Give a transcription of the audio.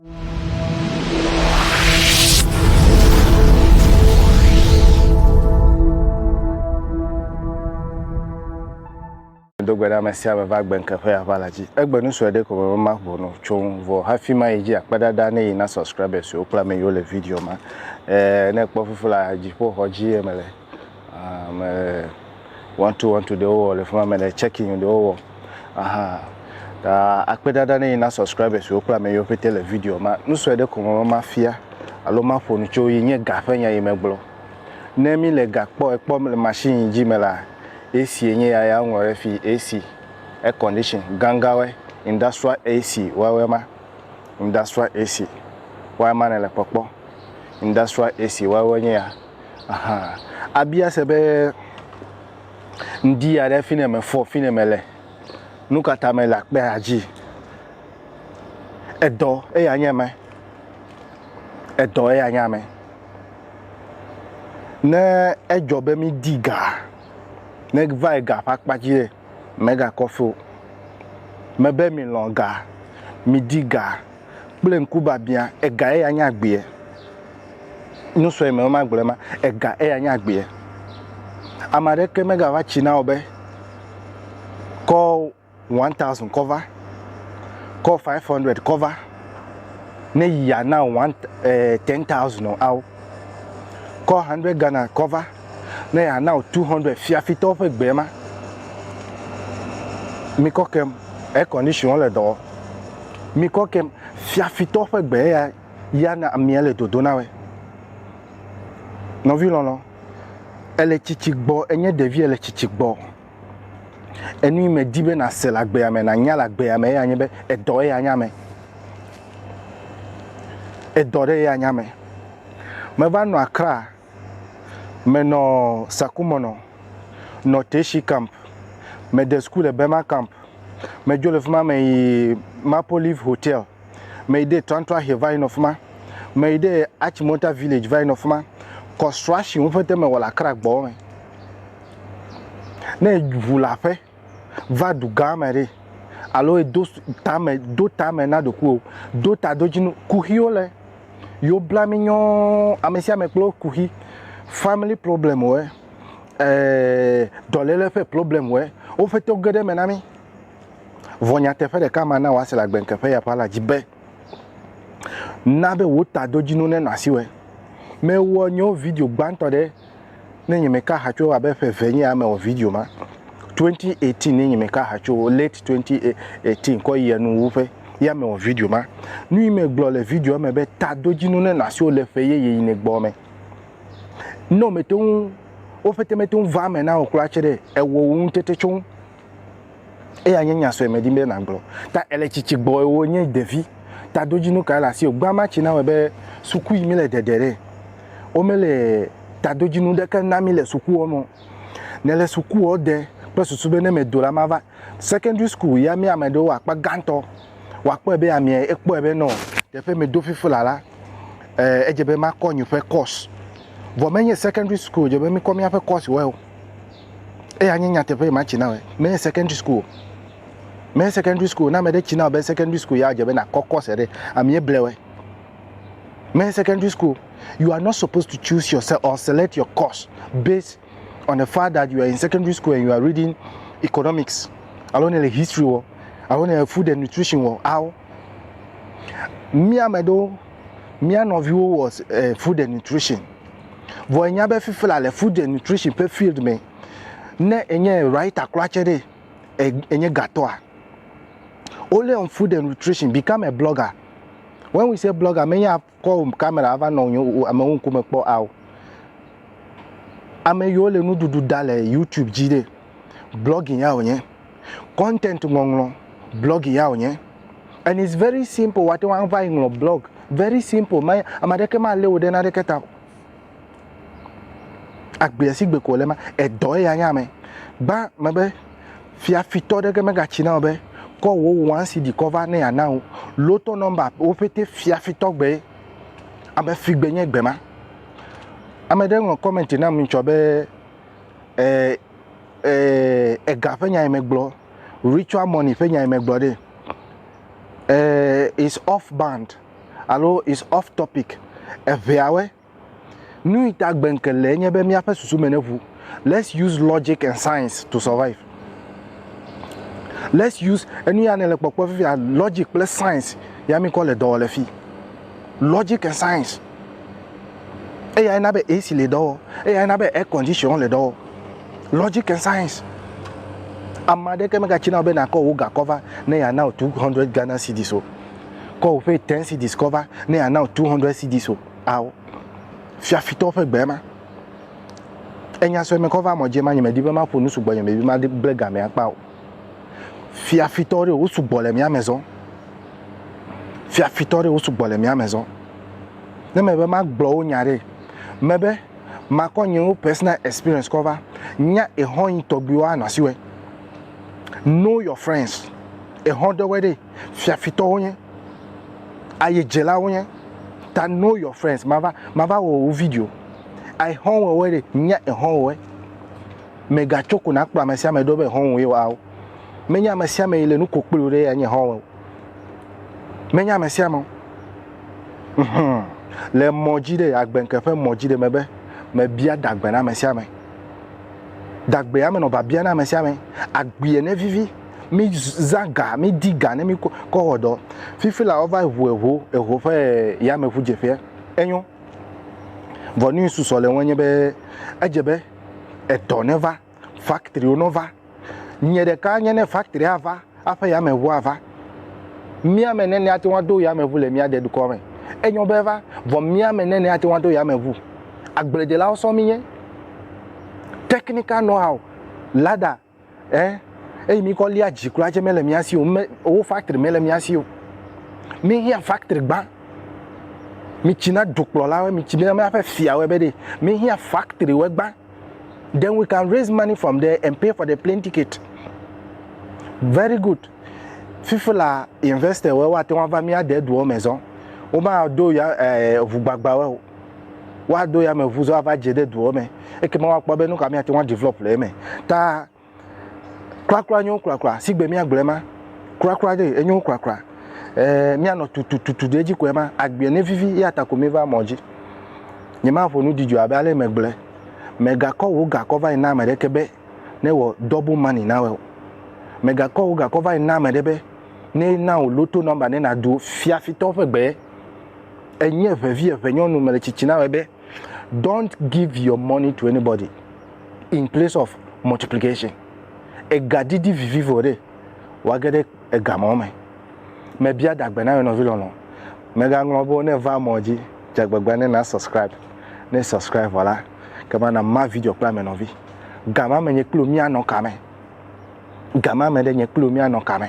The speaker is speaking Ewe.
do gbe ɖe ame sia ame va gbe ŋke ƒe aʋa la dzi. Egbe nu sue ɖe ko me ma ʋu no tso ŋu vɔ hafi ma yi dzi akpe ɖaɖa ne yi na subscribers siwo kple ame yiwo le video ma. Eh, ne kpɔ fufu la, dziƒoxɔ dzi ye mele. Ame wɔntu wɔntu ɖewo wɔ le fi ma, ame ɖe tsɛkin ɖewo wɔ ahan. Ta akpedada ne yi na subscribers wo kple ame yiwo ƒete le video ma. Nu sue ɖe ko me be mafia alo maƒo nu tso yi nye ga ƒe nya yi megblɔ. Ne mi le ga kpɔ ekpɔ le machine yi dzi me la, AC ye nye ya ya woŋlɔ ɖe fi AC, air condition, ganganwoe, industrial AC woawoe ma. Industrial AC woawoe ma nele kpɔkpɔ. Industrial AC woawoe nye ya. Aha. Abia se be, Ŋdi aɖe fine mefɔ, fine mele, nukata mele akpea dzi? Edɔ eya nye ame. Edɔ eya nye ame. Ne edzɔ be mi di ga, ne va yi ga ƒe akpa dzi ɖe, mega kɔfio. Mebe mi lɔ̃ ga, mi di ga. kple ŋkubiabiã, ega eya nye agbee. Nusrɔ̃ me ma gblɔ ma, ega eya nye agbee. Ame aɖeke megava tsi na wò be kɔ one thousand kɔ va, kɔ five hundred kɔ va ne yi yana one eh, ten thousand o ao. Kɔ hundred Ghana kɔ va ne yeana wò two hundred fiafitɔwo ƒe gbee ma. Mikɔ kem air condition le dɔ wɔm. Mikɔ kem fiafitɔwo ƒe gbe ya ya na amia le dodo na wɛ. Nɔvi lɔlɔ, ele tsitsi gbɔ enye ɖevi ele tsitsi gbɔ. Enu yi medi be nàse le agbea me, nànya le agbea me eya nye be edɔ ye anya me. Edɔ ɖe ye anya me. Meva nɔ Accra, menɔ Sakumɔnɔ, nɔ Teshi camp, mede suku le Bema camp, medzo le fi ma meyi Maple Leaf Hotel. meyi ɖe Tuantuahe va yinɔ fima, meyi ɖe Achimota village va yinɔ fima, construction wo ƒete mewɔ le Accra gbɔ me. Ne ʋu le aƒe va dugã me ɖe alo edo tame do tame na ɖokuiwò, do tadodzinu, kuxiwo le yewo bla mi nyɔɔ, ame sia ame kple wo kuxi, family problem wɔe, ɛɛ dɔlele ƒe problem wɔe, wo ƒete wo ge ɖe eme na mi. Vɔ nyateƒe ɖeka mana wòase le agbeŋkeƒe ya ƒe la dzi be, Na be wò tadodzinu nenɔ asiwɔe. Mewɔ nye video gbãtɔ ɖe Ne Nyemeka Aha Tso Abe Ƒe Eve Nye Ya Mewɔ Video Ma, 2018 Ne Nyemeka Aha Tso, late 2018 kɔ yi enu wu ƒe ya mewɔ video ma. Nuyi megblɔ le videoa me be tadodzinu nenɔ asiwò le ƒe yeye yi ne gbɔ me. Ne womete ŋu, wo ƒete mete ŋu vaa eme na wò kura tsɛ ɖe, ewɔ wò ŋutete tso ŋu. Eya nye nya sue medim be nàgblɔ. Ta èle tsitsi gbɔe wònye ɖevi. Tadodzinu kae le asiwò? Gbã ma tsi na wɔe be suku yi míle ɖeɖe ɖe, womele tadodzinu ɖeke na mí le sukuɔ me o. Nèle sukuɔ ɖe kple susu be ne medo la mava. Secondary school ya mía ame ɖewo akpa gãtɔ woakpɔe be amiɛ ekpɔe be nɔ teƒe medo fifi la la, eh, edze be makɔ nye ƒe course. Vɔ menye secondary school dze be míkɔ míaƒe course wɔe o. eya nye nyateƒe ma tsi na wɔ menye secondary school menye secondary school na mede tsi na be secondary school ya dze be na kɔ course ɖe ami eble wɔ menye secondary school you are not supposed to choose yourself or select your course based on the fact that you are in secondary school and you are reading economics alo ne le history wɔ alo ne le food and nutrition wɔ awo mía me ɖewo mía nɔviwo wɔ eh, food and nutrition Vɔ enya be fifila le food and nutrition ƒe field me. Ne enye writer kura tse ɖe, enye gatɔa? Only on food and nutrition, become a blogger. When we say blogger, menye akɔ camera ava nɔ amewo ŋkume kpɔ ao. Ame yiwo le nuɖuɖu da le YouTube dzi ɖe, blogging ya wònye. content ŋɔŋlɔ blɔgi ya wònye and it's very simple wòate ŋu ava yi ŋlɔ blɔg very simple me ame aɖeke malé wò ɖe naneke ta o agbea si gbe ko wòle ma edɔ eya nye ame gbã me be fiafitɔ ɖeke megatsi na wò be kɔ wò wɔn si di kɔ va ne yeana wò lotɔ nɔmba wo ƒete fiafitɔ gbe ame fi gbe nye gbe ma ame ɖe ŋlɔ kɔmɛnti nam ŋutsɔ be ɛɛ. Eh, Eee, ega ƒe nyae megblɔ, ritual money ƒe nyae megblɔ ɖe. Eee, is off band alo is off topic. Eŋeawɔe. Nu yi ta gbe ŋke le enye be míaƒe susu me neʋu. Let's use logic and science to survive. Let's use enu ya nele kpɔkpɔ fifia logic kple science ya mi kɔ le dɔ wɔ le fi. Logic and science. eya na be ac le dɔ wɔ eya na be air condition le dɔ wɔ logic and science ame aɖeke megatsi na be nakɔ wò gakɔ va ne yeana wò two hundred ghana cedis o kɔ wò ƒe ten cedis kɔ va ne yeana wò two hundred cedis o ao fiafitɔwo ƒe gbe ma enya sɔe mekɔ va mɔ dzi ma nyemedi be maƒo nu sugbɔ nyemebi ma ble gamea kpa o fiafitɔwo ɖe wo sugbɔ le mía me zɔ fiafitɔwo ɖe wo sugbɔ le mía me zɔ. Ne mebe magblɔ wo nya ɖe, mebe makɔ nye wo personal experience kɔ va nya exɔ yi tɔgbi wa nɔsi wɛ. Know your friends. Exɔ ɖe wɛ ɖe fiafitɔ wo nye, aye jela wo nye. Ta know your friends. Mava, mava wɔ wo video. Exɔ wɔ wɛ ɖe, nya exɔ wɔ wɛ. Mega tso ko na kplɔ amesiame ɖo be exɔ wɔ ye wa wo. Menye amesiame yi le nu ko kpli wo ɖe ya nye exɔ wɔ. Menye ame sia ame o. Le mɔ dzi ɖe, agbenke ƒe mɔ dzi ɖe me be mebia dagbe na ame sia ame. Dagbe ya menɔ biabia na ame sia ame. Agbea ne vivi, mi zã ga, mi di ga ne mi kɔ wɔ dɔ. Fifi la wova ŋu eŋo, eŋo ƒe yameŋu dze ƒea. Enyo. Vɔ nu yi susɔ le ŋu enye be edze be edɔ ne va. factory wo nɔ va nye ɖeka nye ne factory a va aƒe ya me ʋu a va mía me ne ne ate ŋu do ya me ʋu le mía de dukɔ me enyɔ be va vɔ mía me ne ne ate ŋu do ya me ʋu agble de la wo sɔ mi nye technical know how lada eh eyi mi kɔ lia dzi kura dze me le mía si o me wo factory me le mía si o mi hia factory gba mi tsi na dukplɔ la wo mi tsi na mía ƒe fia wo be de mi hia factory wo gba then we can raise money from there and pay for the plane ticket very good fifi la investor wɔ wa te wa va mía de doɔ me zɔn wo ma do ya ɛɛ eh, ʋu gbagba wɔ o wa do ya me ʋu zɔn ava dze de doɔ me eke ma wa kpɔ be nu ka mía te wa develop le eme ta Krakra nyo krakra sigbe mia gblɔɛ ma krakra ɖe enyo krakra eh, mia nɔ tutututu ɖe edzi kɔɛ ma agbia ne vivi ya ta ko mi va mɔ dzi nye ma ƒo nu didjɔ abe ale me gblɔɛ me ga kɔ wo ga kɔ va yi na ame ɖe ke be ne wɔ double money na wɔ me ga kɔ wo ga kɔ va yi na ame ɖe be ne na wo loto number ne na do fia fitɔ ƒe gbe enye ʋevi eve nyɔnu me le tsitsi na wɔ be Don't give your money to anybody in place of multiplication. Ega didi vivi vɔ ɖe wage ɖe ega mɔ me. Mebia dagbe na wò nɔvi lɔlɔ. Mega ŋlɔ be ne va mɔ dzi dze agbagba ne na subscribe. Ne subscribe vɔ la, ke ma na ma video kple ame nɔvi. Gama me nye kpli wò mia nɔ kame? Gama me ɖe nye kpli wò mia nɔ kame?